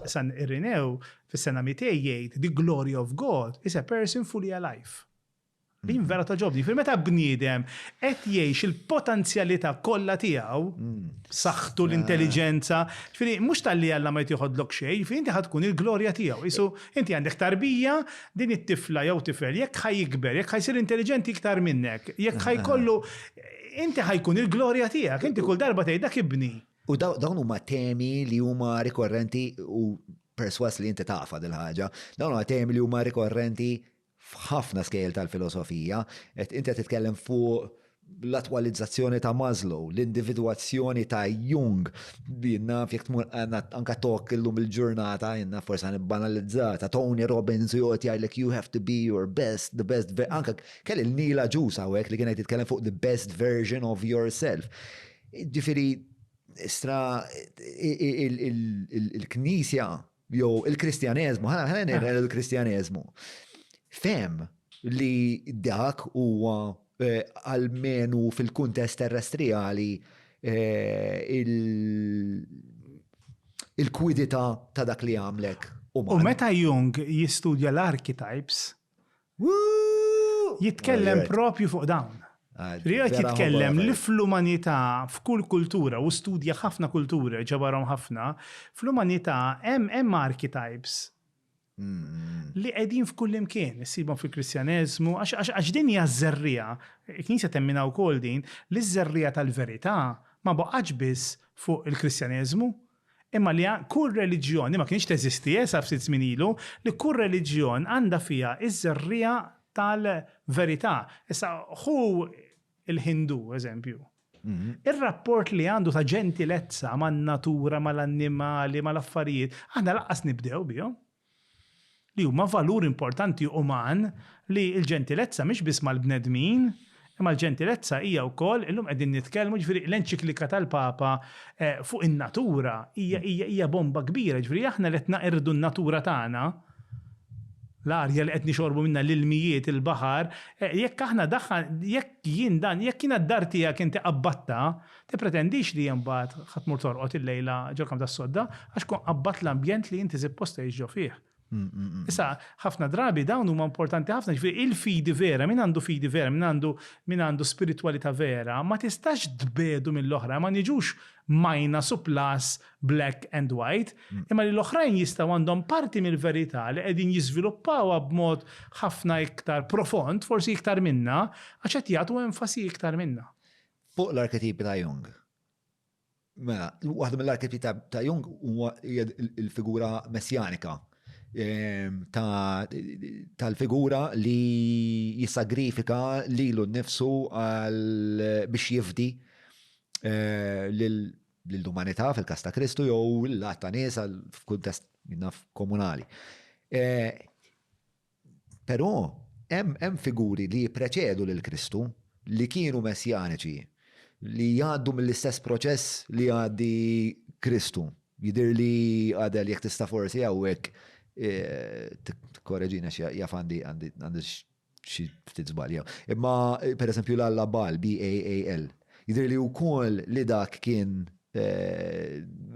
San Irinew fis-sena 200 jgħid the glory of God is a person fully alive. Din mm. vera ta' ġobni, fil meta bniedem qed jgħix il-potenzjalità kollha tiegħu, mm. saħħtu eh. l-intelliġenza, ġifieri mhux tal-li Alla ma jtieħodlok xejn, ġifieri inti tkun il-glorja tiegħu. Isu inti għandek tarbija din it-tifla jew tifel jekk ħajikber, jekk ħajsir intelliġenti iktar minnek, jekk ħajkollu inti ħajkun il-glorja tiegħek, inti kull darba tgħid dak ibni. U dawn huma temi li huma rikorrenti u perswas li inti tafa dil-ħaġa, dawn huma temi li huma rikorrenti f'ħafna skejl tal-filosofija, qed inti qed titkellem fuq l-attwalizzazzjoni ta' Maslow, l-individwazzjoni ta' Jung, dinna fjek tmur anka tok illum il-ġurnata, jenna forsa nibbanalizzata, Tony Robbins u jgħot jgħidlek you have to be your best, the best, anka kelli l-nila ġusa u li kienet jitkellem fuq the best version of yourself. Jiġifieri, stra il-Knisja jew il-Kristjaneżmu, ħa ngħidu l-Kristjaneżmu, fehem li dak huwa eh, almenu fil-kuntest terrestrijali eh, il-kwidità ta' dak li għamlek. U meta Jung jistudja l-archetypes, Jitkellem propju fuq dawn. Riqet jitkellem li fl-umanità, f'kull kultura, u studja ħafna kultura, ġabarhom ħafna, fl-umanità hemm archetypes li qegħdin f'kull imkien, issibhom fil-Kristjaneżmu, għax din hija ż-żerriegħa, il-Knisja temminha wkoll din, li ż-żerriegħa tal-verità ma baqgħetx biss fuq il-Kristjaneżmu, Imma li kull reliġjon, li ma kienx teżisti sa ftit żmien ilu, li kull reliġjon għandha fiha ż-żerriegħa tal-verità. Issa, ħu l-Ħindu, eżempju. Ir-rapport li għandu ta' ġentilezza man-natura, mal-annimali, mal-affarijiet, aħna lanqas nibdew bihom. li huma valur importanti uman li l-ġentilezza mhix biss mal-bnedmin, imma l-ġentilezza hija wkoll, illum qegħdin nitkellmu, jiġifieri l-enċiklika tal-Papa fuq in-natura hija bomba kbira, jiġifieri aħna li qed naqirdu n-natura tagħna, l-arja li qed nixorbu minnha, l-ilmijiet, il-baħar, jekk aħna daħħan, jekk jien dan, jekk jiena d-dar tiegħek inti qabbattha, Tippretendix li imbagħad ħa tmur torqod illejla ġol-kamp tas-sodda għax tkun qabbadt l-ambjent li inti sippost tgħix ġo fih. Issa, ħafna drabi dawn huma importanti ħafna, ġifieri il-fidi vera, min għandu fidi vera, min għandu min għandu spiritwalità vera, ma tistax tbiegħdu mill-oħrajn, ma niġux minus u plus, black and white, imma li l-oħrajn jistgħu għandhom parti mill-verità li qegħdin jiżviluppawha b'mod ħafna iktar profond, forsi iktar minna, għax qed jagħtu enfasi iktar minna. Fuq l-arketipi ta' Jung. Mela, waħda mill-arketipi ta' Jung huwa l-figura messjanika ehm, tal-figura li jisagrifika lilu nnifsu biex jifdi eh, l-umanità fil-kas ta' Kristu jew l-għatta nies f'kuntest komunali. Eh, Però, hemm figuri li jippreċedu lil Kristu, li kienu messjaniċi, li jgħaddu mill-istess proċess li jgħaddi Kristu. Jidhirli, Adel, jekk tista' forsi hawnhekk tikkoreġini għax jaf għandi xi ftit żbalji hawn. Imma, pereżempju, l-alla Baal, B-A-A-L, jidhirli wkoll li dak kien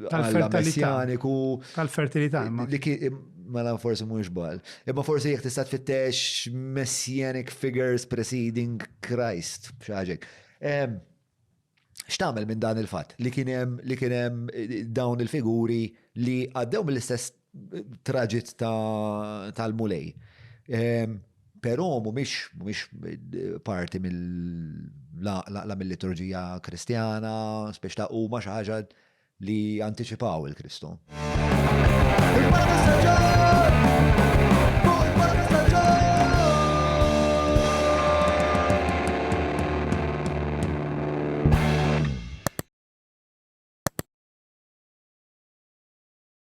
tal-fertilitaniku. Tal-fertilità. Mela forsi mhux bal. Imma forsi jekk tista' tfittex messianic figures preceding Christ b'xi ħaġek. X'tagħmel minn dan il-fatt li kien hemm li kien hemm eh, dawn il-figuri li għaddew mill-istess traġit tal-Mulej. Ehm, però mhumiex parti mill-laqla mill-liturġija Kristjana, spiex ta' huma xi ħaġa li anticipaw il-Kristu.